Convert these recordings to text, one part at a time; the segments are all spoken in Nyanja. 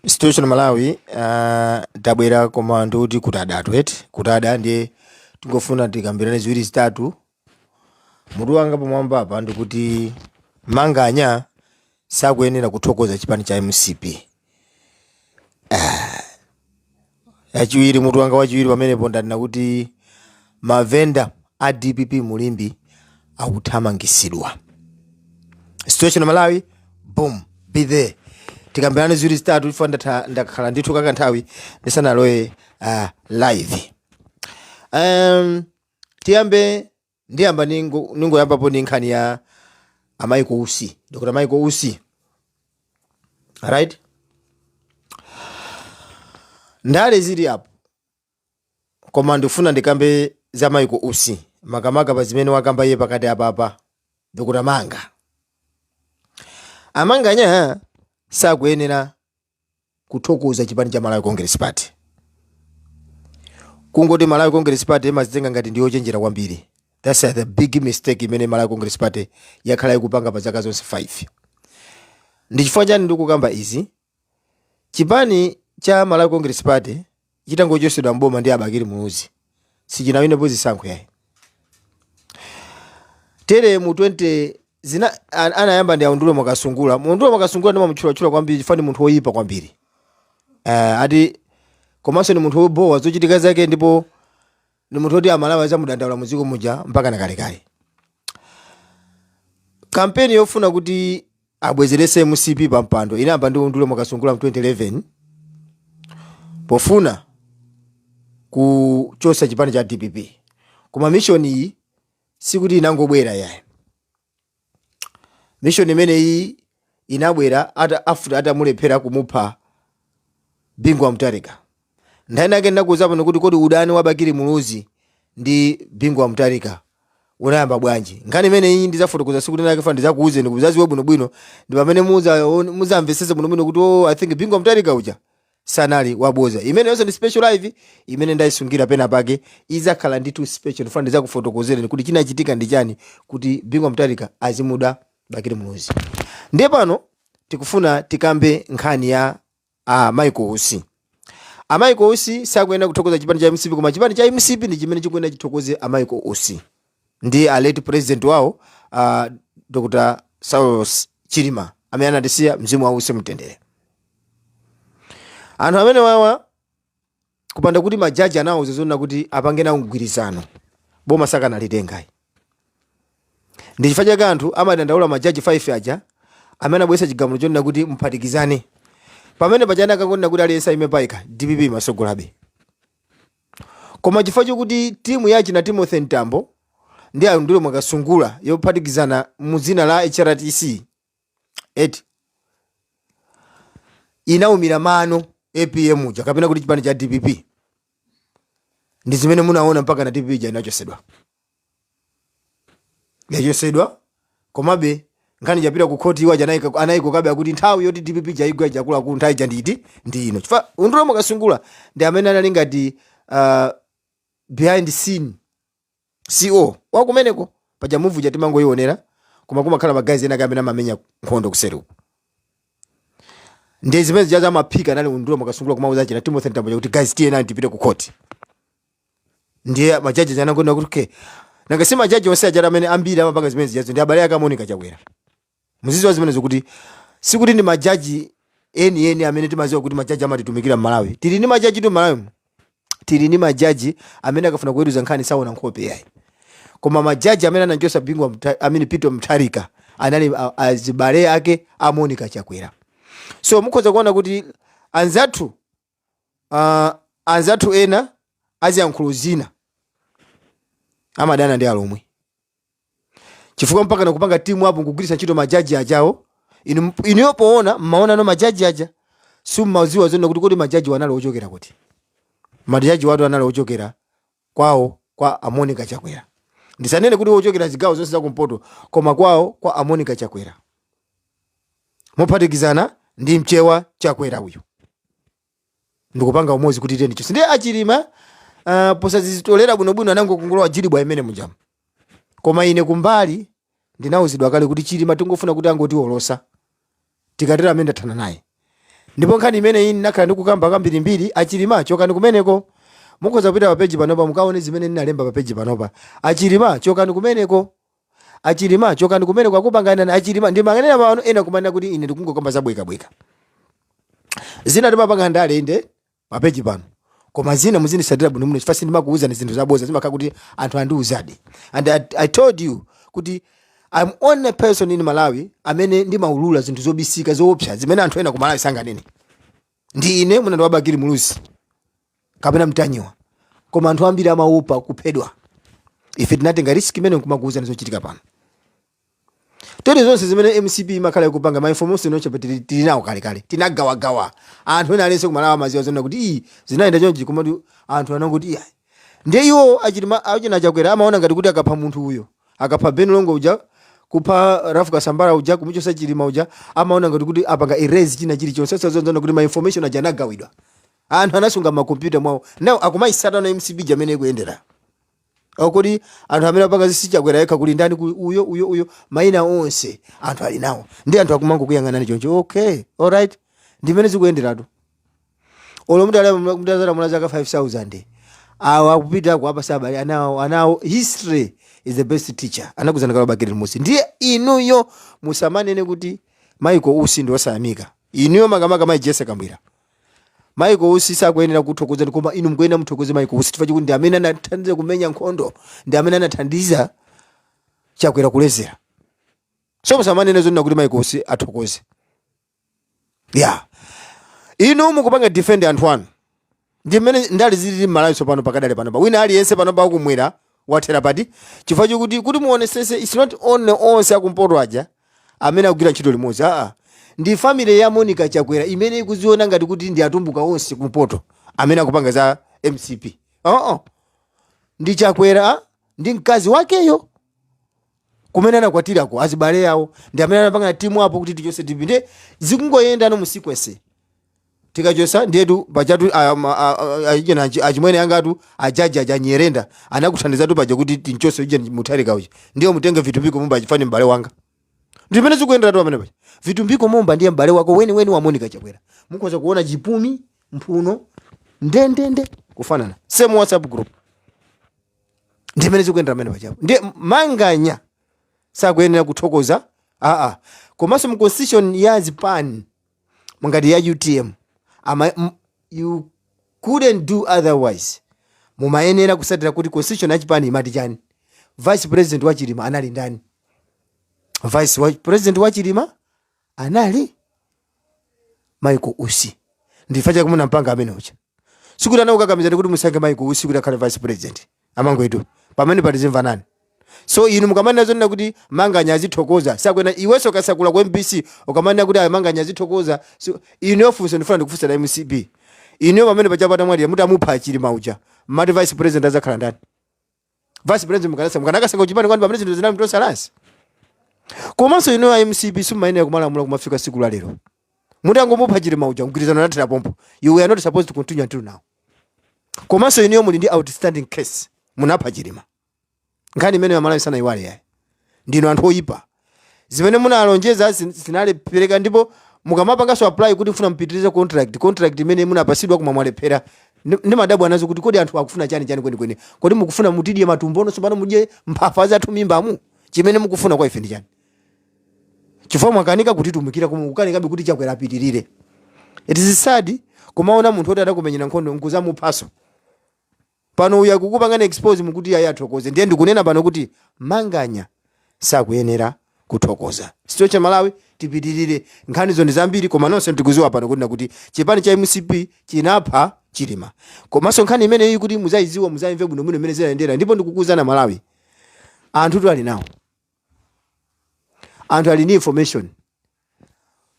situation malawi uh, tabwera koma ndikuti kutadatu eti kutada ndiye tingofuna tikambirane ziwiri zitatu mutu wanga pamwamba apa ndikuti manganya sakuyenera kuthokoza chipani cha mcp Ah. yachiwiri mutu wanga wachiwiri pamenepo ndanena kuti mavenda a dpp mu limbe akuthamangisidwa situation malawi boom be there tikambirane ziwiri zitatu chifukwa ndatha- ndakhala ndithu kakanthawi ndisanalowe uh, live um, tiyambe ndiyamba ningo- ningoyambapo ni nkhani ya a Michael Usi dr Michael Usi right ndale zili apo koma ndifuna ndikambe za Michael Usi makamaka pa zimene wakamba iye pakati apapa dr manga a manganya sakuyenera kuthokoza chipani cha malawi congress party kungoti malawi congress party imazitenga ngati ndiyochenjera kwambiri thats the big mistake imene malawi congress party yakhala ikupanga pa zaka zonse 5 ndi chifukwa chani ndikukamba izi chipani cha malawi congress party chitangochotsedwa m'boma ndi a bakili muluzi sichinawinepo zisankho yayi tere mu 20 zina an- anayamba ndi a undule mwakasungula undule mwakasungula ndimamutchulachula kwambiri chifukwa ndi munthu woyipa kwambiri uh, ati komanso ni munthu wobowa zochitika zake ndipo ni munthu woti amalawi azamudandaula muziko muja mpaka nakalekale kampeni yofuna kuti abwezerese mcp pa mpando inayamba ndi undule mwakasungula mu 2011 pofuna kuchosa chipani cha dpp koma mission iyi sikuti inangobwera yayi mission imeneyi inabwera ata afuta atamulephera kumupha bingu wa mutharika nkhani yake ndinakuuza pano kuti kodi udani wa bakili muluzi ndi bingu wa mutarika unayamba bwanji nkhani imene iyi ndizafotokoza siku linake ndifuna ndizakuuzeni kuti muzaziwe bwinobwino ndi pamene muza- muzamvesese bwinobwino kuti oh, i think bingu wa mutarika uja sanali waboza imeneyonso ndi special live imene ndayisungira pena pake izakhala ndithu special ndifuna ndizakufotokozereni kuti chinachitika ndi chani kuti bingu wa mutarika azimuda bakili muluzi ndiye pano tikufuna tikambe nkhani ya a Michael Usi a Michael Usi sakuyenera kuthokoza chipani cha mcp koma chipani cha mcp ndi chimene chikuyenera chithokoze a Michael Usi ndi a late president wawo a Dr. Saulos Chilima amene anatisiya mzimu wawo uuse mumtendere anthu amene wawa kupanda kuti ma judge anawauza zonena kuti apange nawo mgwirizano boma sakanalitenga ayi ndi chifukwa chake anthu amadandaula ma judge 5 aja amene abweretsa chigamulo chonena kuti muphatikizane pamene pachana akangonena kuti aliyense ayime payekha dpp imasogolabe koma chifukwa chokuti timu ya achina timothy mtambo ndi a undule mwakasungula yophatikizana mu dzina la hrdc eti inaumira mano apm uja kapena kuti chipani cha dpp ndi zimene munaona mpaka na dpp ija inachosedwa yachosedwa komabe nkhani japita ku khoti iwo aja anayika- anayikokabe akuti nthawi yoti dpp ija igwa ija akuluakulu nthawi ija nditi ndi ino chifukwa undule mwakasungula ndi amene anali ngati uh, behind scene CO wakumeneko paja movie ija timangoionera koma kumakhala ma guys ena ake amene amamenya nkhondo kuseriko ndiye zimene zijazo amaphika anali undule mwakasungula kumauza achina timothy mtambo aja kuti guys tiyeni tipite ku court ndiye majaji aja anangonena kuti okay nanga si majaji onse ajati amene ambiri amapanga zimene zijazo ndi abale ake a monica chakwera muzidziwa zimenezo kuti sikuti ndi majaji enieni amene timaziwa kuti majaji amatitumikira mmalawi tili ndi majajitu mmalawi tili ndi majaji amene akafuna kuweruza nkhani saona nkhope yayi koma majaji amene anamchosa big man peter mutharika anali azibale ake a monica chakwera so mukhoza kuona kuti anzathu ah, anzathu ena a ziyankhulo zina amadana ndi alomwe chifukwa mpakana kupanga timu apo nkugwiritsa ntchito majaji ajawo inu inuyo poona mmaonano majaji aja simmaziwa zonena kuti kodi majajiwa anali ochokera kuti majajiwatu anali ochokera kwawo kwa a Monica Chakwera. Ndisanene kuti ochokera zigawo zonse za kumpoto koma kwawo kwa a Monica Chakwera. Mophatikizana ndi mchewa Chakwera uyu. Ndikupanga umodzi kuti tiyeni tichose. Ndiye a Chilima uh, posazitolera bwinobwino anangokungolowa jilibwa imene mujamu. Koma ine kumbali ndinauzidwa kale kuti chilima tingofuna kuti angotiwolosa tikatero amene ndathana naye ndipo nkhani imeneyi ndinakhala ndikukamba kambirimbiri achilima chokani kumeneko mukhoza kupita pa peji panopa mukaone zimene ndinalemba pa peji panopa achilima chokani kumeneko achilima chokani kumeneko akupanganani achilima ndimanganena pano ena kumanena kuti ine ndikungokamba zabwekabweka zina timapanga ndale inde pa page pano koma zina muzindisatira bwino muno chifukwa sindimakuwuzani zinthu zaboza zimakhala kuti anthu andiwuzadi and I, i told you kuti i'm only person in malawi amene ndimaulula zinthu zobisika zoopsa zimene anthu ena ku malawi sanganene ndi ine mwina ndi wa bakili muluzi kapena mtanyiwa koma anthu ambiri amaopa kuphedwa ife tinatenga risk imene nkumakuwuzani zochitika pano tere zonse zimene mcp imakhala ikupanga ma information onse pa tili tili nawo kale kale tinagawagawa anthu ena alense kumalawa amaziwa zonna kuti iyi zinayenda chonchi komati anthu anangoti iya ndiye iwo achilima achina chakwera amaona ngati kuti akapha munthu uyo akapha ben longwe uja kupha rafu kasambala uja kumuchosa chilima uja amaona ngati kuti apanga erase china chilichonse osazindikira kuti ma information aja anagawidwa anthu anasunga makompyuta mwawo nawo akumayisata mcp ija mmene ikuyendera O kodi anthu amene apanga zisi chakwera yekha kuli ndani ku- uyo uyo uyo maina onse anthu ali nawo ndi anthu akumangokuyang'anani choncho okay alright ndimene zikuyenderatu olo mutazalamula zaka 5000 awo akupita kukapha azibale anawo anawo history is the best teacher anakuuzani kale bakili muluzi ndiye inuyo musamanene kuti maiko usi ndi osayamika inuyo makamaka mai jessie kabwila maiko usi sakuyenera kuthokoza koma inu mukuyenera mumuthokoze maiko usi chifukwa chikuti ndi amene anathandiza kumenya nkhondo ndi amene anathandiza chakwera kuledzera so musamanene zonena kuti maiko usi athokoze ya inu mukupanga defend anthu anu ndi mmene ndale zilili m'malawi tsopano pakadali panopa wina aliyense panopa akumwera wathera pati chifukwa chokuti kuti muonesese its not only onse akumpoto aja amene akugwira ntchito limodzi a ndi family ya monica chakwera imene ikuziona ngati kuti ndi atumbuka onse kumpoto amene akupanga za mcp oo ndi chakwera ndi mkazi wakeyo kumene anakwatirako azibale yawo ndi amene anapanga timu apo kuti tichose dpp ndiye zikungoyenda no mu sequence tikachosa ndiyetu pajatu achina achimwene angatu ajaji aja nyirenda anakuthandizatu paja kuti tinchose uje mutharika uja ndiye mutenge vitumbiko mumba chifa ndi m'bale wanga ndi mmene zikuyenderatu pamene paja vitumbiko mumba ndiye m'bale wake weni weni wa monica chakwera mukhoza kuona chipumi mphuno ndendende kufanana same whatsapp group ndi mmene zikuyendera pamene paja ndiye manganya sakuyenera kuthokoza aa komanso mu constitution ya zipani monga ngati ya utm ama, m, you couldn't do otherwise mumayenera kusatira kuti constitution ya chipani imati chani vice president wa chilima anali ndani vice wa, president wa chilima anali michael usi ndifa chake munampanga amene uja sikuti anakukakamizani kuti musankhe maiko usi kuti akhale vice president amangwetu pamenepa tizimvana so inu mukamanena zonena kuti manganya azithokoza sakwena iwenso kasakula ku mbc ukamanena kuti ayo manganya azithokoza so, inu funso ndifuna ndikufunseni a mcp inu pamene paja atamwalira mutamupha chilima uja mumati vice president azakhala ndani vice president mukanasa- mukanakasankha kuchipani kwani pamene zinthu zinali ntoso lasi komanso inu a mcp simumayenera kumalamula kumafika siku la lero mutangomupha chilima uja mgwirizano anathera pompo you were not supposed to continue until now komanso inuyo muli ndi outstanding case munapha chilima nkhani imene amalawi sanayiwale iyayi ndinu anthu oyipa zimene munalonjeza zin- zinalephereka ndipo mukamapanganso apply kuti mufuna mupitirize contract contract imene munapasidwa koma mwalephera Ndi- ndimadabwa nazo kuti kodi anthu akufuna chani chani kwenikweni kodi mukufuna mutidye matumbono tsopano mudye mphafa zathu m'mimbamu chimene mukufuna kwa ife ndi chani chifukwa mwakanika kutitumikira koma kukanikabe kuti chakwera apitirire it is sad kumaona munthu oti adakumenyera nkhondo nkuzamuphaso Pano uyu akukupangani expose mukuti iyayi athokoze ndiye ndikunena pano kuti Manganya sakuyenera kuthokoza. So a Malawi tipitirire nkhanizo ndi zambiri koma nonse tikuziwa pano kunena kuti chipani cha mcp chinapha Chilima komaso nkhani imeneyi kuti muzayiziwe muzayimve bwino bwino mene zinayendera ndipo ndikukuuzani aMalawi anthutu ali nawo anthu ali ndi information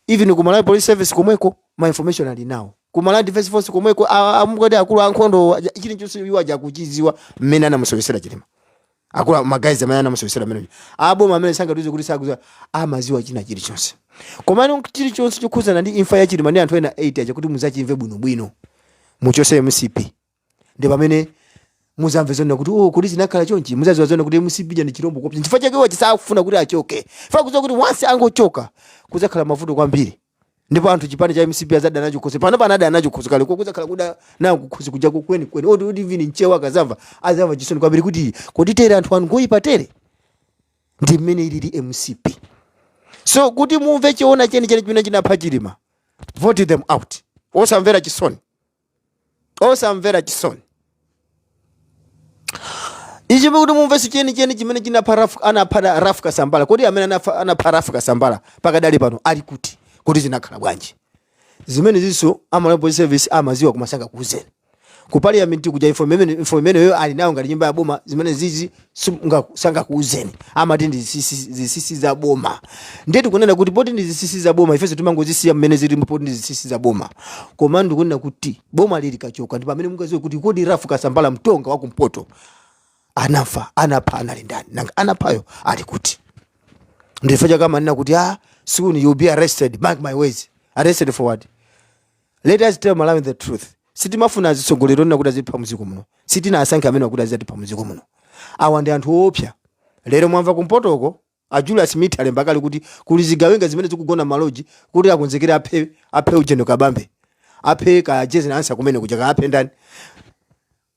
even ku Malawi Police Service komweko ma information ali nawo ku Malawi Defense Force komweko a- a- mukuti akulu ankhondo aja- chilichonse iwo aja akuchidziwa mmene anamusowesera chilima akuluakulu agazi amene anamusowesera mmene aboma amene sangatiuze kuti sakuziwa amaziwa china chilichonse komano chilichonse chokhudzana ndi imfa ya chilima ndi anthu ena 8 aja kuti muzachimve bwinobwino muchose mcp ndi pamene muzamve zoona kuti oh kodi zinakhala chonchi muzaziwa zoona kuti mcp ndi chirombo choopsa chifukwa chake iwo sakufuna kuti achoke fa akuziwa kuti once angochoka kuzakhala mavuto kwambiri ndipo anthu chipani cha mcp azadana nacho khosi pano pano adana nacho khosi kale koma kuzakhala kudana nawo kukhosi kuja kweni kweni oti oti even mchewa akazamva azamva chisoni kwambiri kuti kodi tere anthu awa ngoyipa tere ndi mmene ilili mcp so kuti mumve choona chenicheni chimene chinapha chilima vote them out osamvera chisoni osamvera chisoni ichi kuti mumvese chenicheni chimene chinapha Ralph- anapha da- Ralph kasambala kodi amene anafa- anapha Ralph kasambala pakadali pano ali kuti kuti zinakhala bwanji zimene izo a malawi police service amaziwa koma sangakuuzeni ku parliament kuja info imene- info imeneyo ali nayo ngati nyumba ya boma zimenezizi Simunga- sangakuuzeni amati ndi zisisi zisisi za boma ndiye tikunena kuti poti ndi zisisi za boma ifenso timangozisiya mmene zili poti ndi zisisi za boma koma ndikunena kuti boma ili likachoka ndi pamene mungaziwe kuti kodi Ralph kasambala mtonga wa kumpoto anafa anapha anali ndani nanga anaphayo ali kuti ndi fa chake akamanena kuti soon you'll be arrested mark my words arrested for what let us tell malawi the truth sitimafuna azitsogoleri onena kuti azitipha mdziko muno sitinawasankhe amene akuti azatipha mdziko muno awa ndi anthu oopsa lero mwamva kumpotoko a julius smith alemba kale kuti kuli zigawenga zimene zikugona m'maloji kuti akonzekere aphe aphe ujeni kabambe aphe kaya jane ansah kumene kuja kaaphe ndani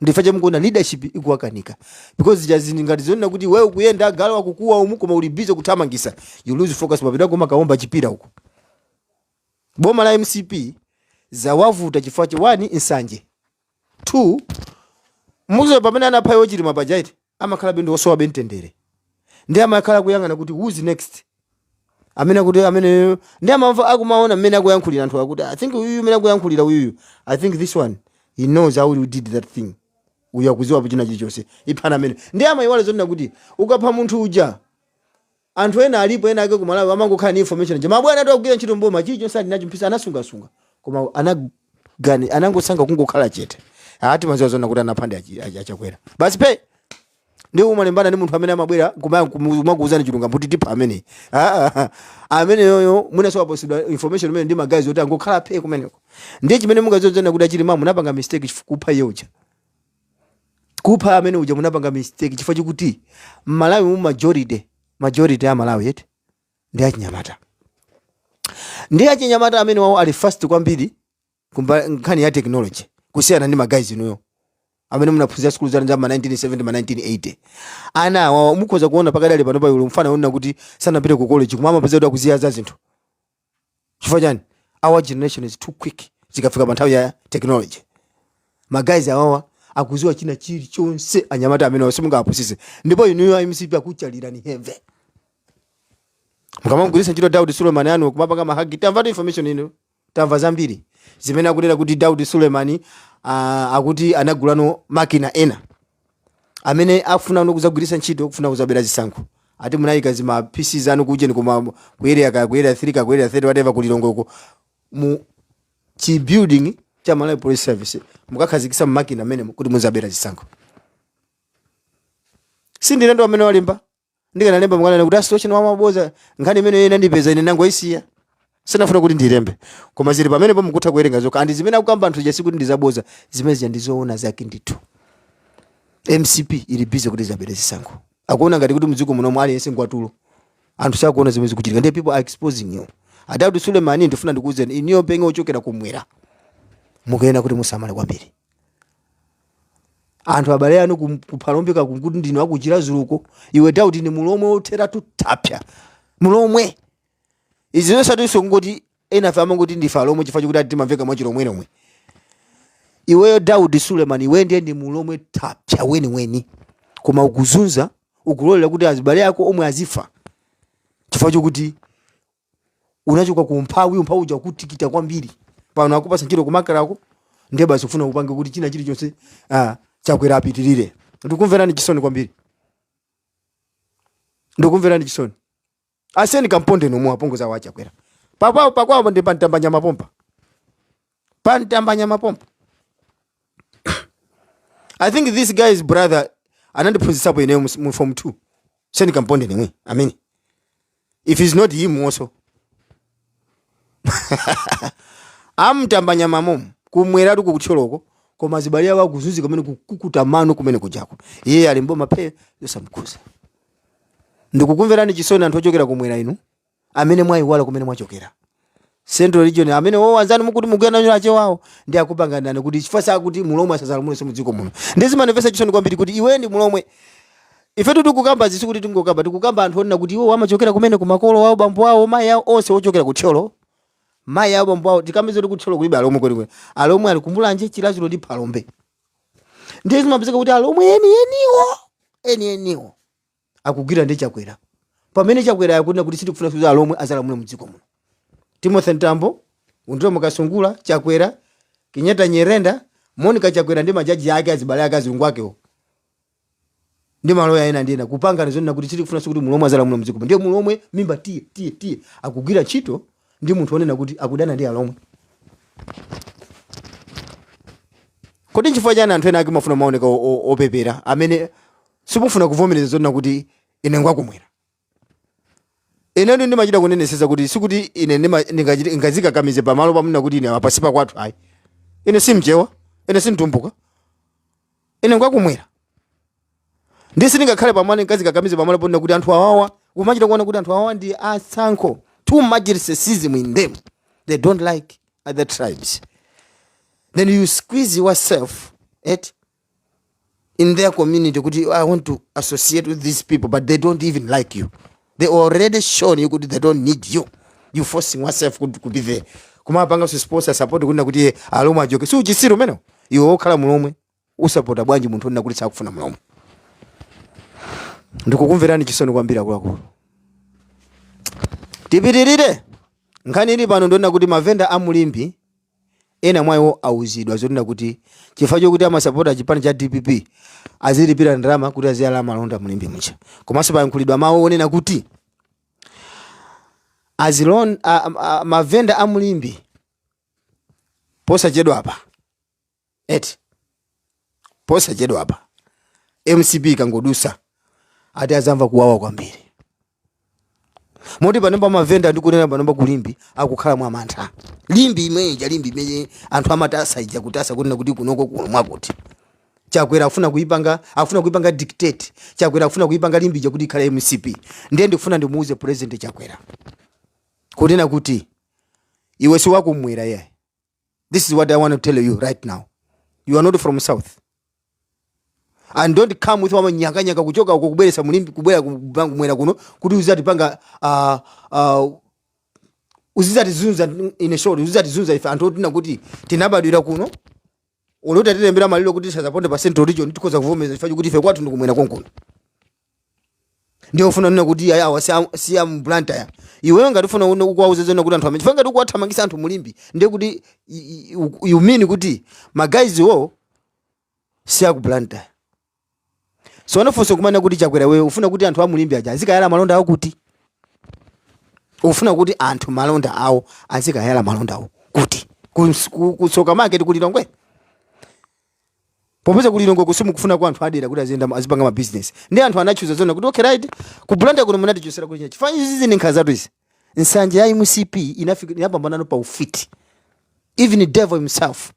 ndichifukwa chake mukuona leadership ikuwakanika because jazi ngati zonena kuti iwe ukuyenda agalu akukuwa umu koma uli busy kuthamangisa you lose focus umapita kumakaomba chipira uko boma la mcp zawavuta chifukwa cha one nsanje two muzo pamene anapha iwo chilima paja eti amakhalabe ndi osowabe mtendere ndi amakhala akuyang'ana kuti who's next amene akuti ameneyo ndi amamva akumaona mmene akuyankhulira anthu akuti i think uyuyu mmene akuyankhulira uyuyu i think this one he knows how we did that thing uyu akuziwapo china chilichonse iphani amene ndi amayiwala zonena kuti ukapha munthu uja Anthu ena alipo ena ake ku Malawi amangokhala ndi information ija mabwanatu akugwira ntchito m'boma chilichonse ali nacho mu pc anasungasunga koma anagani anangosankha kungokhala chete ah timaziwa zonena kuti anapha ndi achi- achi- achakwera basi phe ndiye mumalimbana ndi munthu amene amabwera kumakuuzani chilungamo kuti tipha amene Ah, ah, ameneyoyo mwina sawaposedwa information imene ndi ma guys oti angokhala phe kumeneko ndiye chimene mungaziwe zonena kuti achilima munapanga mistake chifukwa kupha iye uja kupha amene uja munapanga mistake chifukwa chokuti mmalawi mu majority majority ya amalawi eti ndi achinyamata ndi achinyamata amenewawo ali fast kwambiri kumba- nkhani ya technology kusiyana ndi ma guys inuyo amene munaphunzira sikulu zanu za ma 1970 ma 1980 ana awawa mukhoza kuona pakadali pano pali mfana wonena kuti sanapite ku college koma amapeza kuti akuziwa za zinthu chifukwa chani our generation is too quick zikafika pa nthawi ya technology ma guys awawa akuziwa china chilichonse anyamata amene simungawapusise ndipo inuyo a mcp akuchalirani heavy mukamamgwiritsa ntchito daudi sulemani wanu kumapanga ma hack tamvatu information ino tamva zambiri zimene akunena kuti daudi sulemani uh, akuti anagulano makina ena amene akufuna kuno kudzagwiritsa ntchito kufuna kudzabera zisankho ati munayika zima pc zanu ku ujeni koma ku area kaya ku area 3 kaya ku area 30 whatever ku lilongweko mu chi building cha malawi police service mukakhazikisa makina mmenemo kuti mudzabere zisankho sindine ndi amene walemba ndikanalemba mukananena kuti asitocheni wamaboza nkhani imeneyo inandipeza ine nangoyisiya sinafuna kuti ndilembe koma zili pamenepo mukutha kuwerenga nokha and zimene akukamba anthu jasi kuti ndizaboza zimene zija ndizoona zake ndithu mcp ili busy kuti izabere zisankho akuona ngati kuti mdziko munomu aliyense ngwatulo anthu sakuona zimene zikuchitika ndiye people are exposing you a daudi sulemani ndifuna ndikuuzeni inuyo being ochokera kumwera mukuyenera kuti musamale kwambiri anthu abale anu kum- kuphalombe kaya kuti ndinu aku chiradzuluko iwe daudi ndi mulomwe otheratu thapsa mulomwe izi zosatinso kungoti enafe amangoti ndife alomwe chifukwa chokuti ati timamveka mwachilomwelomwe iweyo daudi suleman iwe ndiye ndi mulomwe thapsa weniweni koma ukuzunza ukulolera kuti azibale ako omwe azifa chifukwa chokuti unachoka ku umphawi umphawi uja kutikita kwambiri pano akupasa ntchito kumakalako ndiye basi ufuna upange kuti china chilichonse ah, chakwera apitirire ndikumverani chisoni kwambiri ndikumverani chisoni aseni kamponde nomu apongoza wa chakwera pakwawo pakwawo ndi pa mtambanyama pompa pa mtambanyama pompa i think this guy's brother anandiphunzitsapo ineyo mu- mu form 2 seni kamponde nemwe amene if it's not him also amtambanyama momo kumweratu kukuthyoloko koma azibale awo akuzunzika kumene kukukuta mano kumene kujako iye ali mboma phe zosamkhudza ndikukumverani chisoni anthu ochokera kumwera inu amene mwayiwala kumene mwachokera central region amenewo anzanu mukuti mugenda nyau achewawo ndi akupanganirani kuti chifukwa chakuti mulomwe asazalamulenso mudziko muno ndi zimanimvesa chisoni kwambiri kuti iwe ndi mulomwe ifetu tikukamba izi sikuti tingokamba tikukamba anthu onena kuti iwo amachokera kumene ku makolo awo bambo awo mayi awo onse ochokera ku thyolo mayi awo bambo awo tikudziwa kuti ku thyolo kulibe alomwe kwenikweni alomwe ali ku mulanje chiradzulu ndi phalombe ndiye zimapezeka kuti alomwe enieniwo enieniwo akugwira ndi chakwera pamene chakwera akunena kuti sitikufuna kuti alomwe azalamule mdziko muno timothy mtambo undule mwakasungula chakwera kunyada nyirenda monica chakwera ndi majaji ake azibale ake azungu akewo ndi maloya ena ndi ena kupanganirana zonena kuti sitikufuna kuti mulomwe azalamule mdziko muno ndiye mulomwe mimba tiye tiye tiye akugwira ntchito ndi munthu onena kuti akudana ndi alomwe kodi nchifukwa chani anthu ena ake mumafuna kumaoneka o- o- opepera amene simufuna kuvomereza zonena kuti ine ndi wakumwera inetu ndimachita kuneneseza kuti sikuti ine ndima- ndingachite- ndingazikakamize pamalo ponena kuti ine apa si pakwathu ayi ine simchewa ine simtumbuka ine ndi wakumwera ndi sindingakhale pamalo ndingazikakamize pamalo ponena kuti anthu awawa kumachita kuona kuti anthu awawa ndi atsankho too much racism in them they don't like other tribes then you squeeze yourself at in their community kuti i want to associate with these people but they don't even like you they already shown you kuti they don't need you you forcing yourself kuti to be there kumapanga sponsor support kunena kuti iye alomwe achoke si uchisiru umenewo iwe wokhala mulomwe umsapota bwanji munthu onena kuti sakufuna mulomwe ndikukumverani chisoni kwambiri akuluakulu tipitirire nkhani ili pano ndi yonena kuti mavenda a mu limbe ena mwa iwo auzidwa zonena kuti chifukwa chokuti amasapota chipani cha dpp azilipira ndalama kuti aziyala malonda mu limbe muja komanso payankhulidwa mawu onena kuti azilon a, a, mavenda a mu limbe posachedwapa eti posachedwa apa mcp ikangodusa ati tizamva kuwawa kwambiri moti pano pamavenda ndikunena pano pakulimbi akukhala mwa mantha limbe imene ija limbe imene anthu amatasa ija kutasa kunena kuti kunoko kuno mwakuti chakwera afuna kuipanga afuna kuipanga dictate chakwera afuna kuipanga limbe ija kuti ikhale mcp ndiye ndifuna ndimuuze president chakwera kunena kuti iwe si wakumwera iyayi This is what I want to tell you right now. You are not from South. And don't come with amanyakanyaka kuchoka uko kubweresa mulimbe kubwera kubangu mwera kuno kuti uzatipanga uh, uh, uzizatizunza in a short uzizatizunza ife anthu oti nakuti tinabadwira kuno olo atatilembera malire kuti tisazaponde pa central region tikhoza kuvomeza chifukwa chokuti ife kwathu ndikumwera konkuno ndiye ufuna kunena kuti ayi awa si a- si a mblantyre iweyo ngati ufuna kunena ukuwauza zona kuti anthu amene chifukwa ngati ukuwathamangisa anthu mulimbe ndiye kuti i- i- u- you mean kuti magayiziwo si aku blantyre so timafunsa kumanena kuti chakwera iwe ufuna kuti anthu amulimbe aja azikayala malonda awo kuti ufuna kuti anthu malonda awo azikayala malonda awo kuti Kus- ku- kutsoka market kulilongwe popeza kuti lilongwe kusimu ndi kufuna kwa anthu adera kuti aziyenda azipanga ma business ndi anthu anachuza zonena kuti okay right ku Blantyre kuno munatichosera kuti chachi fanyi zizi ndi nkhanza zatu izi nsanje ya MCP inafika inapambanano ufiti even the devil himself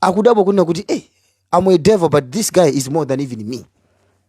akudabwa kunena kuti eh I'm a devil but this guy is more than even me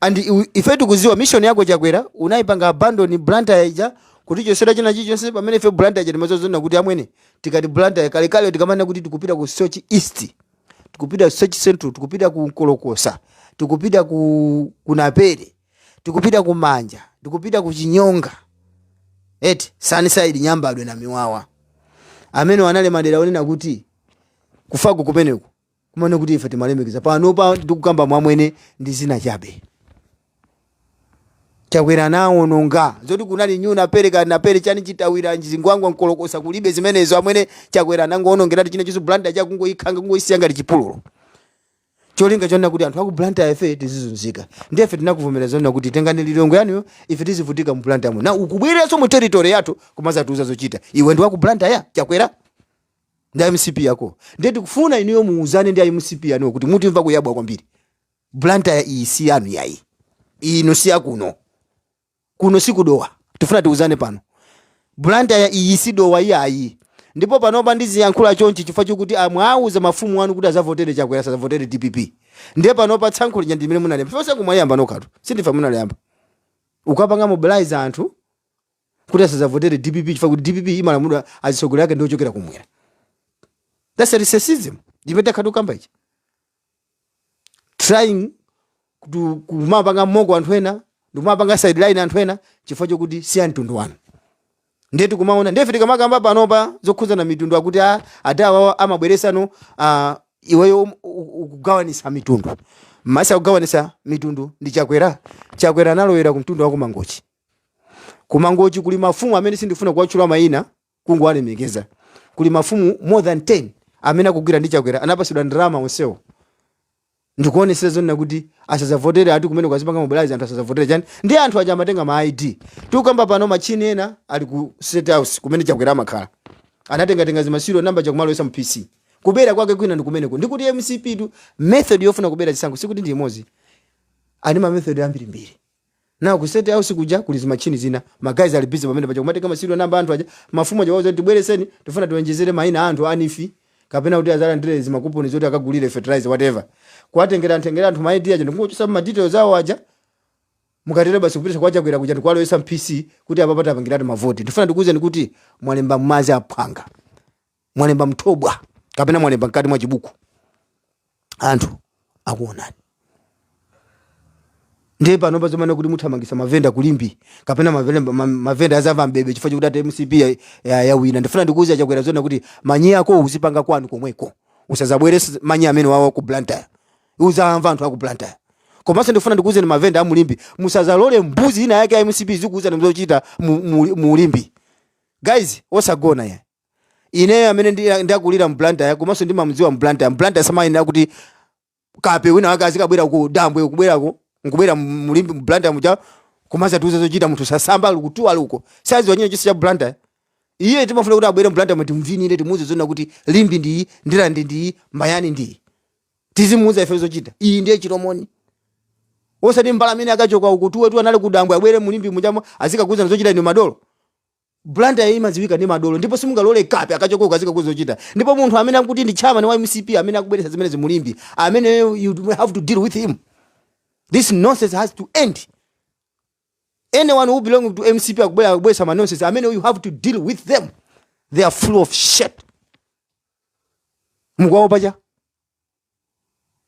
and iwe- ife tikuziwa mission yako chakwera unayipanga abandon blantyre ija kutichosera china chilichonse pamene ife blantyre ija timaziwa zonena kuti amwene tikati blantyre kalekale tikamanena kuti tikupita ku soche east tikupita ku soche central tikupita ku nkolokosa tikupita ku naperi tikupita ku manja tikupita ku chinyonga eti sunnyside nyambadwe namiwawa amene anali madera onena kuti kufaku kumeneku kumanena kuti ife timalemekeza panopa ndikukamba amwene ndi dzina chabe chakwera anaononga zoti kunali nyu naperi kaya naperi chani chitawira zingwangwa nkolokosa kulibe zimenezo amwene chakwera anangoonongeratu china chilichonse blantyre chakungoikhanga kungoisiya ngati chipululu cholinga chonena kuti anthu akublantyre ife tizizunzika ndiye ife tinakuvomereza zonena kuti tengani lilongwe yanuyo ife tizivutika mublantyre mu now ukubwereranso mu territory yathu kumazatiuza zochita iwe ndi wakublantyre chakwera ndi mcp yako ndiye tikufuna inuyo muuzane ndi mcp yanuyo kuti mutimva kuyabwa kwambiri blantyre iyi si yanu yayi ino si yakuno kuno sikudowa tifuna tiuzane pano blantyre iyi sidowa iyayi ndipo panopa ndiziyankhula chonchi chifukwa chokuti mumawauza mafumu anu kuti azavotere chakwera asazavotere dpp ndiye panopa tsankho lija limene munaliyamba paja mukumaliyamba nokhatu sindife munaliyamba ukapanga mobilize anthu kuti asazavotere dpp chifukwa kuti dpp imalamulidwa azitsogoleri ake ndiochokera kumwera thats racism imene takhala tikukamba ichi trying kutu- kumapanga moko anthu ena ndikumapanga sideline anthu ena chifukwa chokuti si amtundu wanu ndiye tikumaona ndiye ife tikamakamba panopa zokhudzana mitundu akuti a- ati awawa amabweresano ah, iweyo um- u- u- ukugawanisa mitundu mmesa akugawanisa mitundu ndi chakwera chakwera analowera ku mtundu wakumangochi ku mangochi kuli mafumu amene sindifuna kuwatchula mayina kungowalemekeza kuli mafumu more than 10 amene akugwira ndi chakwera anapasidwa ndalama onsewo ndikuonesera zonena kuti asazavotere ati kumene kwazipanga mobilize anthu asazavotere chani ndi anthu aja amatenga ma id tikukamba pano machini ena ali ku state house kumene chakwera amakhala anatengatenga zima serial number nkumalowesa mu pc kubera kwake kwina ndi kumeneko ndikuti mcptu method yofuna kubera chisankho sikuti ndi imodzi ali ma method ambirimbiri Na ku state house kuja kuli zimatchini zina, ma guys ali busy pamene paja kumatenga ma serial number a anthu aja, mafumu aja kuwauza kuti tibwereseni tifuna tiwonjezere maina a anthu a neef kapena kuti azalandire zima coupon zoti akagulire fertilizer whatever. Kuwatengera tengera anthu ma ID aja ndikungochosapo ma details awo aja, mukatero basi kupititsa kwa Chakwera kuja ndikuwalowesa m'PC kuti apapa tapangiratu ma vote. Ndifuna ndikuuzeni kuti mwalemba m'madzi aphwanga. mwalemba mthobwa kapena mwalemba mkati mwa chibuku anthu akuonani ndiye pano pazomanena kuti muthamangisa mavenda kulimbi kapena mavenda- ma- mavenda azava mbebe chifukwa chokuti ati mcp ya- ya- yawina ndifuna ndikuuza chakwera zonena kuti manyi ako uzipanga kwanu komweko usazabwerese manyi amenewawa ku blantyre uzamva anthu aku blantyre komanso ndifuna ndikuuzeni mavenda a mu limbi musazalole mbuzi ina yake ya mcp izikuuzani zochita mu- mu- mu limbi guys osagona ya ineyo amene ndi- ndakulira mu Blantyre komanso ndimamdziwa mu Blantyre mu Blantyre samayenera kuti kape wina wake azikabwera ku dambwe kubwerako nkubwera mu- mu limbi mu Blantyre muja komanso kutiuza zochita munthu sasamba ali kutuwa ali uko saziwa china chilichonse cha Blantyre iye timafuna kuti abwere mu Blantyre mu timuvinire timuuze zonena kuti limbi ndi iyi ndirande ndi iyi mayani ndi iyi tizimuuza ife zochita iyi ndiye chilomoni osati mbala amene akachoka akutuwatu anali kudambwe abwere mu limbi mujamo azikakuuza zochita inu madolo Blantyre imadziwika ndi madolo ndipo simungalole kape akachoke uko azikakuuza zochita ndipo munthu amene akuti ndi chairman wa mcp amene akubweretsa zimenezi mu Limbi ameneyo you have to deal with him this nonsense has to end anyone who belong to mcp akubwera akubweretsa ma nonsense ameneyo you have to deal with them they are full of shit mukuwaopa cha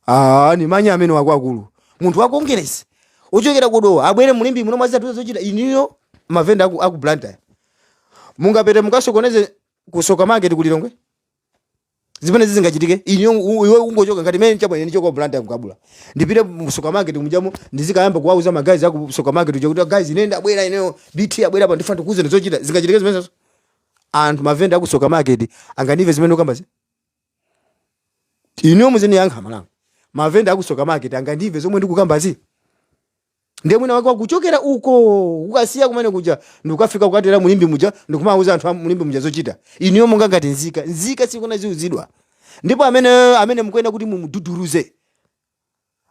Ah, ndi manyi amenewo akuluakulu munthu wa kongeresi ochokera kudowa abwere mu Limbe muno kudzatiuza zochita inuyo mavenda aku, aku blantyre mungapite mukasokoneze ku Tsoka market ku lilongwe zimene sizingachitike inuyo u- iwe ungochoka ngati mene chabwene nichoka blantyre kukabula ndipite mu Tsoka market mujamo ndizikayamba kuwauza magayiz aku Tsoka market kuja kuti guys ine ndabwera ineyo bt wabwera apa ndifuna ndikuuzeni zochita zingachitike zimenezo anthu mavenda aku Tsoka market angandimve zimene ndukambazi inuyo muzindiyankha amalawi mavenda aku Tsoka market angandimve zomwe ndikukambazi ndiye mwina wake wakuchokera uko ukasiya kumeneko kuja ndikukafika kukatera mu Limbe muja ndikumauza anthu a mu Limbe muja zochita inuyo monga ngati nzika nzika sikuyenera iziuzidwa ndipo amene amene mukuyenera kuti mumududuruze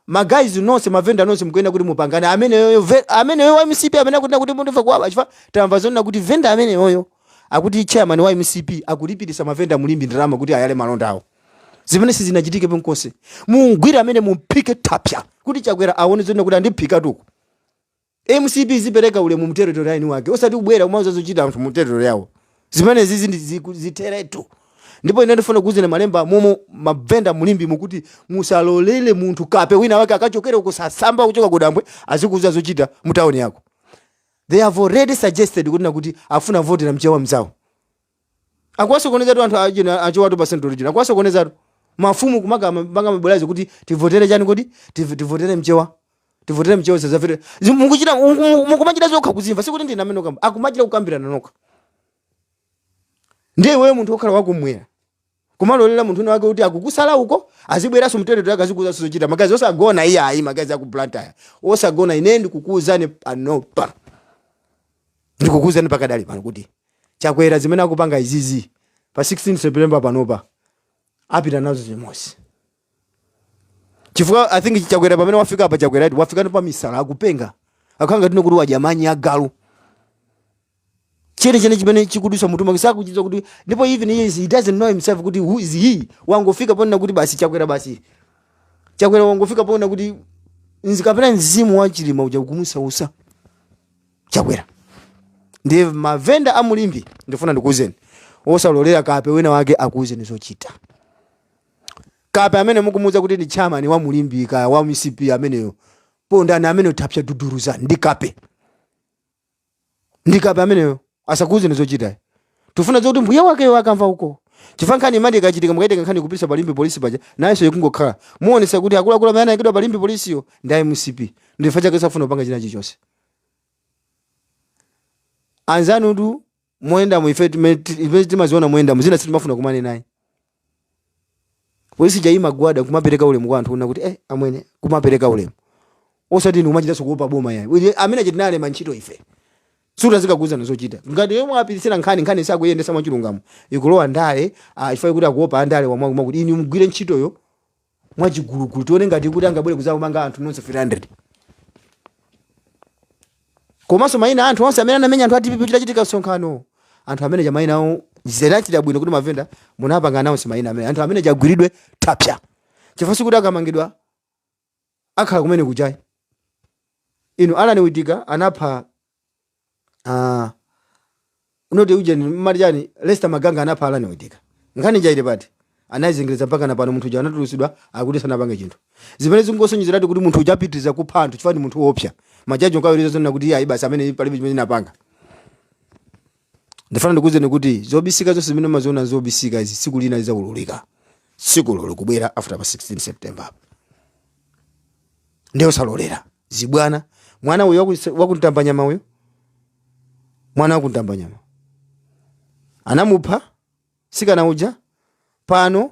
ma guys nonse mavenda nonse mukuyenera kuti mupangane ameneyoyo ve- ameneyo wa mcp amene akunena kuti mutimva kuwawa chifukwa tamva zoona kuti venda ameneyoyo akuti chairman wa mcp akulipirisa mavenda mu Limbe ndalama kuti ayale malonda awo zimene sizinachitike penkonse mumgwire ameneyo mumphike thapsa kuti chakwera aone zoona kuti andiphikatu uku Mcp izipereka ulemu mu territory ya eni wake osati kubwera kumauza zochita anthu mu territory yawo. Zimenezizi ndi ziku, zitheretu. Ndipo ine ndifuna kukuuzani ma Limbe momo ma vendor mu Limbemu kuti musalolele munthu kape wina wake akachokere uko sasamba kuchoka kudambwe azikuuzani zochita mu town yako. They have already suggested kunena kuti afuna votera mchewa mzawo. akuwasokoneza tu anthu ajawa achewatu pa central region akuwasokoneza tu mafumu kumakapanga mabodza azawo kuti tivotere chani kodi Tiv- tivotere mchewa tivotere mchewa zomwe mukuchita muku- mukumachita nokha kuzimva sikuti ndine amene ndukamba akumachita kukambirana nokha ndiye iweyo munthu kukhala wakummwera kumalolera munthu wina wake kuti akukusala uko azibweranso mu territory yake azikuuzanso zochita magayiz osagona iyayi magayiz aku blantyre osagona ine ndikukuuzani panopa ndikukuuzani pakadali pano kuti chakwera zimene akupanga izizi pa 16 september panopa apita nazo limodzi chifukwa i think chakwera pamene wafika apa chakwera wafika pa misala akupenga akukhala ngati kuti wadya manyi a galu chene chene chimene chikudutsa m'mutu mwake sakuchidziwa kuti ndipo even he, is- he doesn't know himself kuti who is he wangofika ponena kuti basi chakwera basi chakwera wangofika ponena kuti nzi- kapena mzimu wa chilima uja ukumusausa chakwera ndi mavenda a mu Limbe ndifuna ndikuuzeni osalolera kape wina wake akuuzeni zochita Kape amene mukumuti kuti ndi chairman wa mu Limbe kaya wa mcp ameneyo pondani ameneyo thapsa duduruza ndi kape ndi kape ameneyo asakuuzeni zochita tifuna zoti mbuye wakeyo akamva uko chifukwa nkhani imati ikachitika mukaitenga nkhani kupititsa pa Limbe polisi paja nayonso ikungokhala kuonetsa kuti akuluakulu amene anayikidwa pa Limbe polisiyo ndi a mcp ndichifukwa chake safuna kupanga china chilichonse anzanutu moyendamu ife time- ti- ife timaziona moyendamu zina sitimafuna kukumana nazo polisi ija imagwada kumapereka ulemu kwa anthu una kuti eh, amwene kumapereka ulemu osati ndikumachitanso kuopa boma yayi Uye- amene aja tinawalemba ntchito ife sitidzikauzana zochita ngati yomwe apititsira nkhani nkhani sakuyendesa mwachilungamo ikulowa ndale ah, chifukwa choti akuopa andale omwe akuti inu mugwire ntchitoyo mwachigulugulu tione ngatidi angabwere kudzawamanga anthu nonse 300 komanso maina a anthu onse amene anamenya anthu a dpp chitachitika msonkhano anthu amene aja maina awo zinachita bwino kuti mavenda munapanga announce maina amene anthu amene aja agwiridwe tapsa chifukwa sikuti akamangidwa akhala kumene ku jail inu Alan Witika anapha ah, unoti uje mmati chani Lester Maganga anapha Alan Witika nkhani ija ili pati anayizengereza mpaka napano munthu uja anatulusidwa akuti sanapange chinthu zimene zikungosonyezeratu kuti munthu uja apitiriza kupha anthu chifukwa ndi munthu woopsa majaji nkuwiriza zonena kuti iye ayi basi amene palibe chimene anapanga ndifuna ndikuwuzeni kuti zobisika zonse zimene mumaziona zobisika izi tsiku lina lizaululika tsikulo likubwera after pa 16 september apo ndiye osalolera zibwana mwana uyo waku- waku Mtambanyama uyo mwana waku Mtambanyama anamupha mtsikana uja pano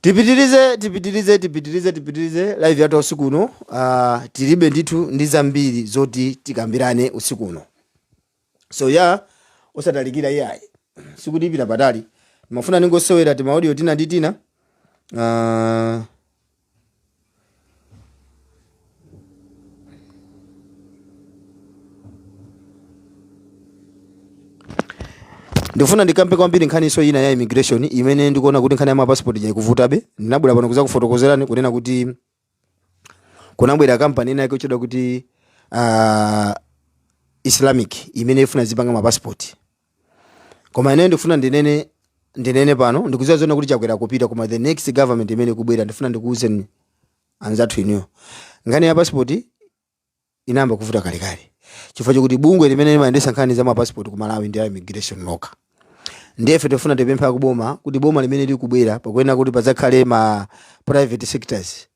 tipitirize tipitirize tipitirize tipitirize live yathu usiku uno uh, tilibe ndithu ndi zambiri zoti tikambirane usiku uno so ya yeah, usatalikira iyayi sikuti ipita patali ndimafuna ningosewera timaudio tina ndi tina uh, ndifuna ndikambe kwambiri nkhaniso ina ya immigration imene ndikuona kuti nkhani ya mapasipoti ija ikuvutabe ndinabwera pano kuzakufotokozerani kunena kuti kunabwera kampani ina yake yotchedwa kuti uh, islamic imene ifuna izipanga mapasipoti koma ine ndikufuna ndinene ndinene pano ndikuziwa zona kuti Chakwera akupita koma the next government imene ikubwera ndifuna ndikuuzeni anzathu inuyo nkhani ya passport inayamba kuvuta kalekale chifukwa chokuti bungwe limene limayendesa nkhani za mapassport ku malawi ndi la immigration lokha ndiye ife tifuna tipempha kuboma kuti boma limene likubwera pakuyenera kuti pazakhale ma private sectors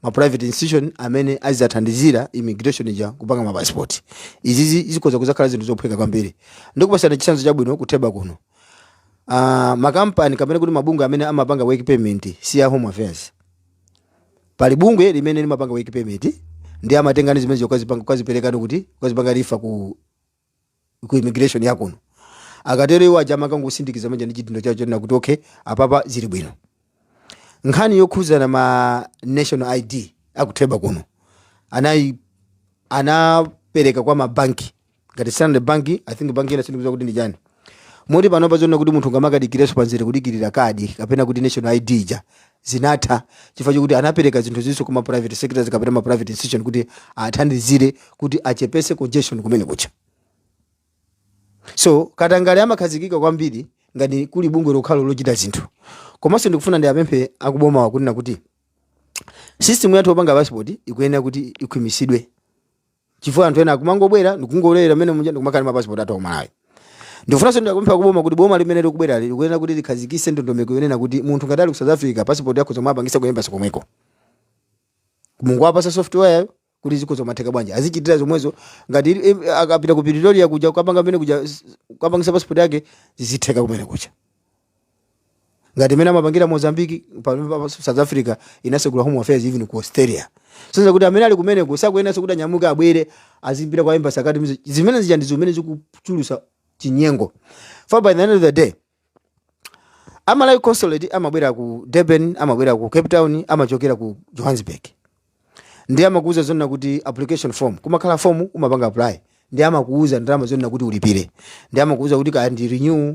ma private institution amene azizathandizira immigration ija kupanga ma passport izizi zikhoza kuzakhala zinthu zophweka kwambiri ndikupasana chitsanzo chabwino ku Theba kuno uh, makampani kapena kuti mabungwe amene amapanga work permit si ya home affairs pali bungwe limene limapanga work permit ndiye amatengano zimene zokazipanga kaziperekano kuti kazipanga rifa ku ku immigration yakuno akatero iwo aja amakangosindikiza manja ndi chidindo chawo chonena kuti okay apapa zili bwino nkhani yokhuzana ma national id akutheka kuno anayi anapereka kwa mabanki ngati standard bank i think banki ina sindikudziwa kuti ndi chani Moti panopa zonena kuti munthu ungamakadikirenso pamzere kudikirira kadi kapena kuti national ID ija zinatha chifukwa chokuti anapereka zinthu izi kwa ma private sectors kapena ma private institution kuti athandizire kuti achepetse congestion kumene kuja. So katangale amakhazikika kwambiri ngati kuli bungwe lokhalo lochita zinthu. Komanso ndikufuna ndiwapemphe akubomawa kunena kuti system yathu yopanga passport ikuyenera kuti ikhwimitsidwe. chifukwa anthu ena akumangobwera ndikungolowa mmene muja ndikumakhala ndi mapasipoti athu akumalawi ndikufunanso ndikupempha kuboma kuti boma limene likubwera likuyenera kuti likhazikise ndondomeko yonena kuti munthu ngati ali ku south africa pasipoti yake azitha kupangisa ku embassy komweko mungowapasa software kuti zikhoza kumatheka bwanji azichitira zomwezo ngati ili- em- akapita ku pretoria kuja kukapanga mmene kuja s- kukapangisa pasipoti yake zizitheka kumene kuja ngati mmene amapangira mozambiki pa- pa- pa- south africa inasegula home affairs even ku australia zonena kuti amene ali kumeneko sakuyenaso kuti anyamuke abwere adzera kwa embassy akuti zimene zija ndi zimene zikuchulusa chinyengo chifukwa by the end of the day a malawi consulate amabwera ku durban amabwera ku cape town amachokera ku johannesburg ndi amakuuza zonena kuti application form kumakhala form umapanga apply ndi amakuuza ndalama zonena kuti ulipire ndi amakuuza kuti kaya ndi renew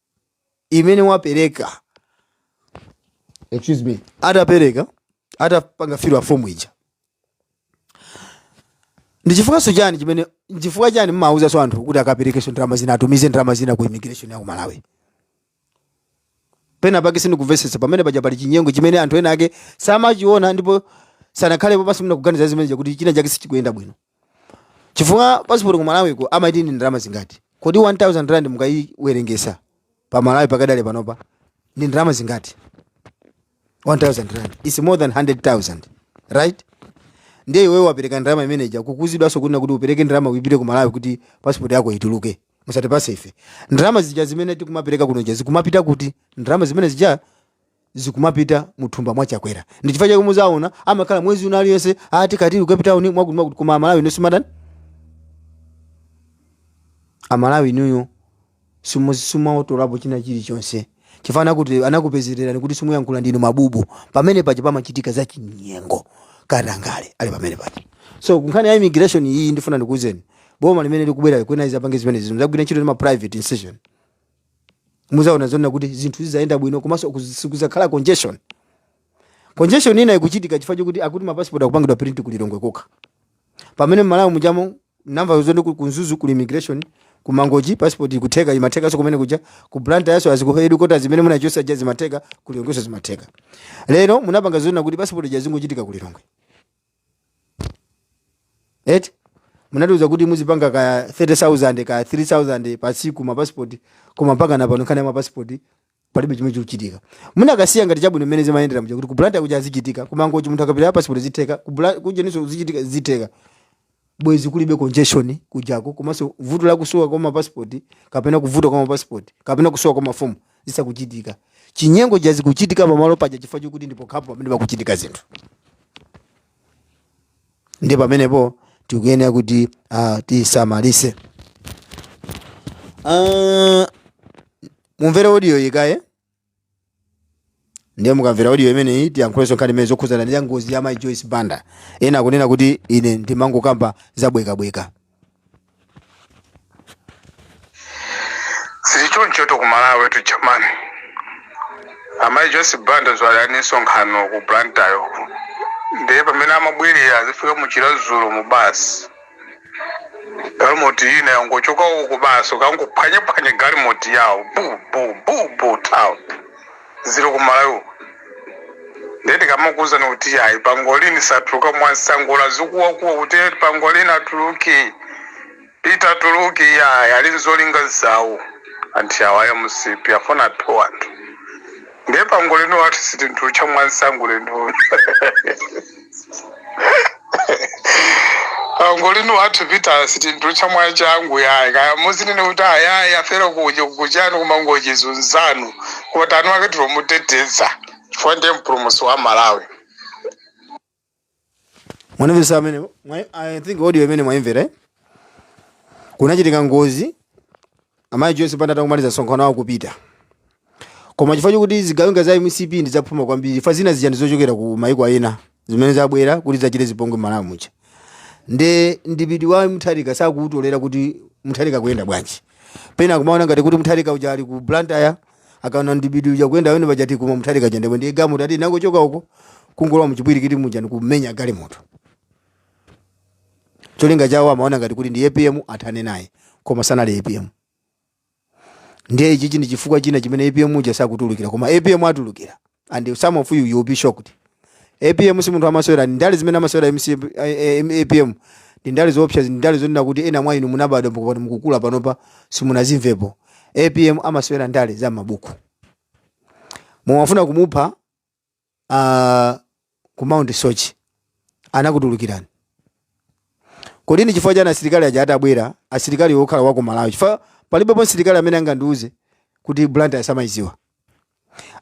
imene wapereka excuse me atapereka atapanga fill a form ija ndi chifukwanso chani chimene chifukwa chani mmawuzanso anthu kuti akaperekenso ndalama zina atumize ndalama zina ku immigration ya ku malawi pena pake sindikuvetsetsa pamene paja pali chinyengo chimene anthu ena ake samachiona ndipo sanakhalepo pansi nkuganiza zimene kuti china chake sichikuyenda bwino chifukwa pasipoti ku malawiko amati ndi ndalama zingati kodi 1000 rand mukayiwerengesa pa malawi pakadali panopa ndi ndalama zingati 1000 rand is more than 100000 right ndiye iwewe wapereka ndalama imeneja ukuuzidwanso kunena kuti upereke ndalama ipite ku malawi kuti pasipoti yako ituluke musatipusise ife ndalama zija zimene tikumapereka kuno zija zikumapita kuti ndalama zimene zija zikumapita muthumba mwa chakwera ndichifukwa chake muzaona amakhala mwezi uno uliwonse ati tili ku cape town mwakuti mwakuti koma amalawi inu simatani amalawi inuyo simu- simutolapo china chilichonse chifukwa anakuti anakupezererani kuti simuyankhula ndinu mabubu pamene paja pamachitika za chinyengo katangale ali pamene paja so nkhani ya immigration iyi ndifuna ndikuuzeni boma limene likubwera likuyenera izapange zimenezi izagwire ntchito ndi ma private institution muzaona zonena kuti zinthu zizayenda bwino komanso kuz- sikuzakhala congestion congestion ina ikuchitika chifukwa chokuti akuti mapasipoti akupangidwa print ku Lilongwe kokha pamene mmalawi mujamo namva zone ku ku Mzuzu kuli immigration ku Mangochi passport ikutheka imathekanso kumene kuja ku Blantyre so azi kuhedikota zimene munachosa ja zimatheka ku Lilongweso zimatheka lero munapanga zonena kuti passport ja zingochitika ku Lilongwe eti munatiuza kuti muzipanga kaya 30000 kaya 3000 pa tsiku mapasipoti koma mpaka napano nkhani ya mapasipoti palibe chimene chikuchitika munakasiya ngati chabwino mmene zimayendera mja kuti ku Blantyre kuja zichitika ku Mangochi munthu akapita pasipoti zitheka kubula- kujeninso zichitika zitheka bwezi kulibe congestion kujako komanso vuto la kusowa kwa mapasipoti kapena kuvuta kwa mapasipoti kapena kusowa kwa mafomu zisakuchitika chinyengo cha zikuchitika pamalo paja chifukwa chokuti ndi pokhapo pamene pakuchitika zinthu ndi pamenepo tikuyenera kuti uh, tisamalise uh, mumvere audioyi kaye ndiye mukamvera audio imeneyi tiyankhulenso nkhani imene zokhudzana ndi ya ngozi ya mai joyce banda ena akunena kuti ine ndimangokamba zabwekabweka zili chonchotu ku Malawitu jamani amayi joyce banda dzulo ali ndi msonkhano ku blantyre ndiye pamene amabwerera azifika mu Chiradzulu mu basi galimoti ina yangochoka uku basi kukangophwanyaphwanya galimoti yawo bubububu tawo ziri ku Malawi uku nde tikamakuuzani kuti yayi pangolini satuluka mwansanga olo azikuwakuwa kuti eti pangolini atuluke peter atuluke yayi ali nzolinga zawo anthu awo a mcp afuna aphe anthu ndiye pangolini wathu sitimtulutsa mwansanga ulendo angolini wathu peter sitimtulutsa mwachangu yayi kaya muzinene kuti ayayi afera kuja kuchani ku Mangochi izo nzanu koti anu ake tikumuteteza chifukwa ndiye mpulumusi wa malawi mwanimvesa amene mwa- i think audio imene mwaimvera eh? kunachitika ngozi Amayi Joyce Banda atangomaliza msonkhano wawo kupita. Koma chifukwa chokuti zigawenga za mcp ndi zaphuma kwambiri chifukwa zina zija ndizochokera ku maiko ena zimene zabwera kuti zachite zipongwe m'Malawi muja. Nde mdipiti wa Mutharika sakuutolera kuti Mutharika akuyenda bwanji. Pena kumaona ngati kuti Mutharika uja ali ku Blantyre akaona mdipiti uja ukuyenda pamene paja ati koma Mutharika uja nde ndi galimoto ina yangochoka uko kungolowa muchipwirikiti muja ndikumenya galimoto. cholinga chawo amaona ngati kuti ndi apm athane naye koma sanali apm ndiye ichichi ndi chifukwa china chimene apm uja sakutulukira koma apm atulukira and some of you you will be shocked apm si munthu amasewera ndi ndale zimene amasewera MC, eh, eh, apm ndi ndale zoopsa ndi ndale zonena kuti ena mwa inu munabadwa mpaka pano mukukula panopa simunazimvepo apm amasewera ndale za mabuku mumafuna kumupha uh, ku mount soche anakutulukirani kodi ndi chifukwa chani asilikali aja atabwera asilikali okhala wa ku malawi chifukwa palibepo msilikali amene angandiuze kuti blantyre samayidziwa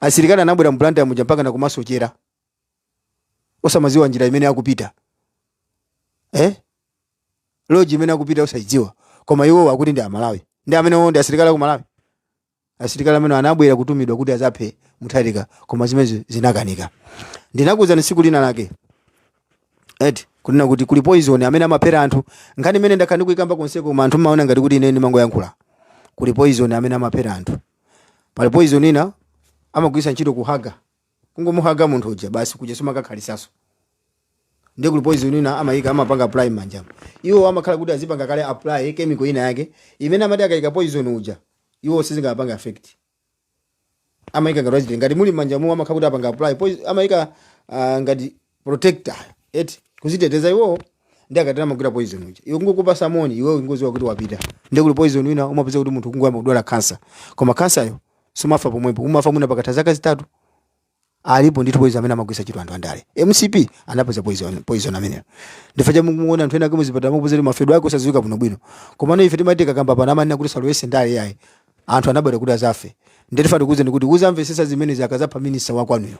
asilikali anabwera m'blantyre muja mpaka nakumasochera osamaziwa njira imene akupita eh? lodge imene akupita osayidziwa koma iwo akuti ndi amalawi ndi amenewo ndi asilikali aku malawi Asilikali amene anabwera kutumidwa kuti adzaphe Mutharika koma zimenezo zinakanika. Ndinakuwuzani tsiku lina lake eti kunena kuti kuli poison amene amaphera anthu. Nkhani imene ndakhala ndikuyikamba konseko koma anthu mmaona ngati kuti ine ndimangoyankhula. Kuli poison amene amaphera anthu. Pali poison ina amagwiritsa ntchito kuhaga. kungomuhaga munthu uja basi kuja sumakakhalitsanso ndiye kuli poison ina amayika amapanga apply manjamo iwo amakhala kuti azipanga kale apply chemical ina yake imene amati akayika poison uja iwo sizingapanga affect amayika ngati wachitiri ngati muli manjamo amakhala kuti apanga apply poison amayika ah, ngati protector eti kuziteteza iwowo ndi akatana magwira poison uja iwe kungokupasa moni iwe ungoziwa kuti wapita ndi kuli poison wina umapeza kuti munthu kungoyamba kudwala kansa koma kansayo sumafa pomwepo umafa mwina pakatha zaka zitatu alipo ndithu poison amene amagwiritsa ntchito anthu andale mcp anapeza poison poison ameneyo nchifukwa chake mukuona anthu ena kama zipatala mukupeza kuti mafedwe ake osadziwika bwino bwino komano ife timati tikakamba pano amanena kuti musalowetse ndale yayi anthu anabwera kuti azafe ndiye tifuna tikuuze ndikuti uzamvesesa zimenezo akazapha minister wakwanuyo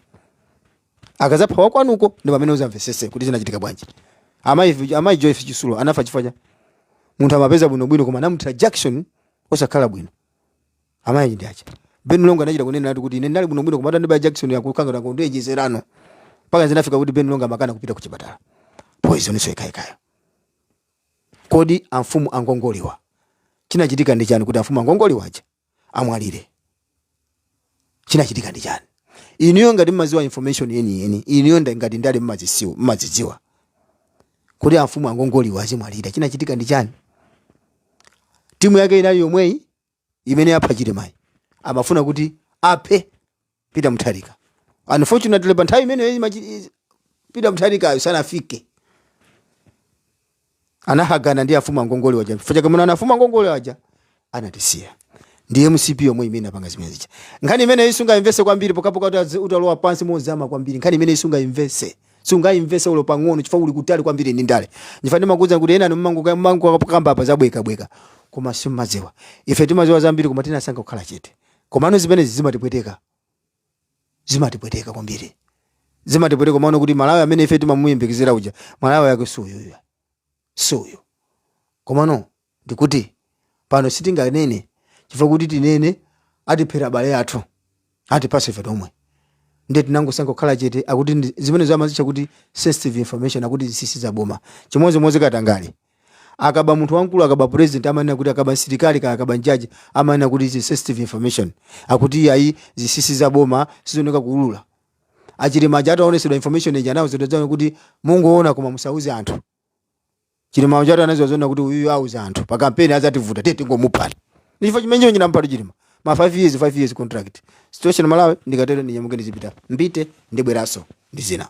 akazapha wakwanuko ndi pamene uzamvesese kuti zinachitika bwanji amayi amayi joyce chitsulo anafa chifukwa chani munthu amapeza bwinobwino koma anamuthira jakisoni osakhala bwino amayi ndi acha ben longwe anachita kunena nati kuti ine ndinali bwinobwino koma atandibaya jakisoni yakukangana kuti ejezerano mpaka zinafika kuti ben longwe amakana kupita ku chipatala poison so ikayikayo kodi amfumu angongoliwa chinachitika ndi chani kuti amfumu angongoliwa aja amwalire chinachitika ndi chani inuyo ngati mmaziwa information yeniyeni inuyo nda- ngati ndale mmazisiwa mmazidziwa kuti amfumu angongoliwa azimwalira chinachitika ndi chani timu yake inali yomweyi imene yapha chilimayi amafuna kuti aphe Peter Mutharika. Unfortunately pa nthawi imeneyo imene Peter Mutharikayo sanafike. Anathetsana ndi afuma ngongole waja. Chifukwa chake mumaona afuma ngongole waja anatisiya. Ndi MCP yomwe imene yapanga zimene zija. Nkhani imene isungaimvetse kwambiri pokapoka utazi- utalowa pansi mozama kwambiri. Nkhani imene isungaimvetse. Sungaimvetse olo pang'ono chifukwa uli kutali kwambiri ndi ndale. Ndifa ndimakuuza kuti ena mumango mumangokamba apa zobwekabweka. Koma simumaziwa. Ife timaziwa zambiri koma tinasankha kukhala chete. komano zimenezi zimatipweteka zimatipweteka kwambiri zimatipweteka komano kuti malawi amene ife timamuyembekezera uja malawi yake siuyuyu siuyu komano ndikuti pano sitinganene chifukwa kuti tinene atiphera abale athu atiphaso ife tomwe ndiye tinangosankha kukhala chete akuti ndi- zimenezo amazitcha kuti sensitive information akuti zinsinsi zaboma chimodzimodzi katangale akaba munthu wamkulu akaba president amanena kuti akaba msilikali kaya akaba mjaji amanena kuti izi sensitive information akuti iye ayi zinsinsi za boma sizofunika kuulula achilima aja ataonesedwa information ija anawauziratu kuti mungoona koma musauze anthu chilima aja atadziwa zoona kuti uyuyu auza anthu pa kampeni azativuta uyu tingomuphani ndichifukwa chimenecho chinamphetsa chilima ma 5 years 5 years contract situation malawi ndikatero ndinyamuke ndizipita mbite ndibweranso ndi zina